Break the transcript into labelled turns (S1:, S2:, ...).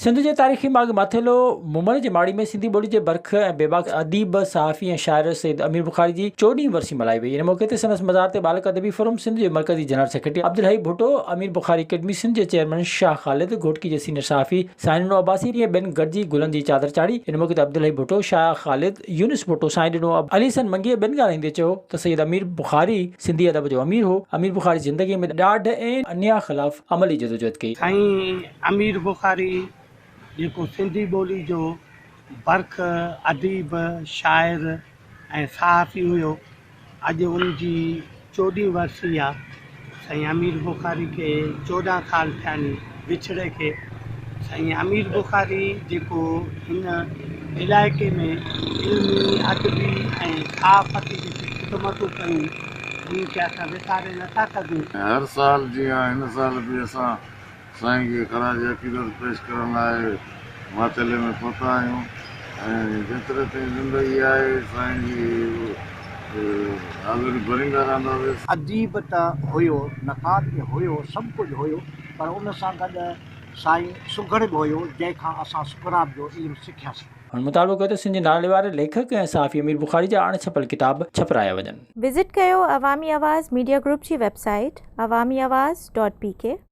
S1: سنڌ جي تاريخي ماڳ ماٿيلو مومل جي ماڙي ۾ سنڌي ٻولي جي برک ۽ بيباڪ اديب، صحافي ۽ شاعر سيد امير بخاري جي چوڏهين ورسي ملهائي وئي. ان موقعي تي سندس مزار تي ٻالڪ ادبي فورم سنڌ جي مرڪزي general secretary Abdulhai Bhutto, Amir Bukhari academy Sindh جي چيئرمين شاهه خالد، گهوٽڪي جي سينيئر صحافي، سائين ڏنو عباسي ڏينهن ٻين گڏجي گلن جي چادر چاڙهي، ان موقعي تي عبدالحئي ڀٽو، شاهه خالد، يونس ڀٽو، سائين ڏنو عباسي، علي حسن منگيء ٻين ڳالهائيندي چيو ته سيد امير بخاري سنڌي ادب جو امير هو، امير بخاري زندگيء ۾ ڏاڍ ۽ انياء خلاف عملي جدوجهد ڪئي. سائين امير
S2: بخاري جيڪو سنڌي ٻولي جو برک، اديب، شاعر، ۽ صحافي هيو اڄ ان جي چوڏهين ورسي آ سائين امير بخاري کي چوڏهن سال ٿيا ني وڇڙي کي سائين امير بخاري جيڪو هن علائقي ۾ علمي ادبي ۽ صحافتي جيڪي خدمتون ڪيون انهن کي اسان وساري نٿا سگهون. ۽ هر سال
S3: جيان هن سال به اسان سائين کي خراج عقيدت پيش ڪرڻ لاء ماتيلي ۾ پهتا آهيون ۽ جيتري تائين زندگي آهي سائين جي حاضري ڀريندا رهنداسين. اديب ته
S4: هيو، نقاد به هيو، سڀ ڪجهه هيو پر ان سان گڏ سائين سگهڙ به هيو جنهن کان اسان سڪرات جو علم سکياسين. هن مطالبو ڪيو ته سنڌ
S1: جي نالي واري ليکڪ ۽ صحافي امير بخاري جا اڻ ڇپيل ڪتاب ڇپرايا وڃن. وزٽ ڪيو
S5: عوامي آواز ميڊيا گروپ جي web
S1: site
S5: Awami Awaz dot P ڪي.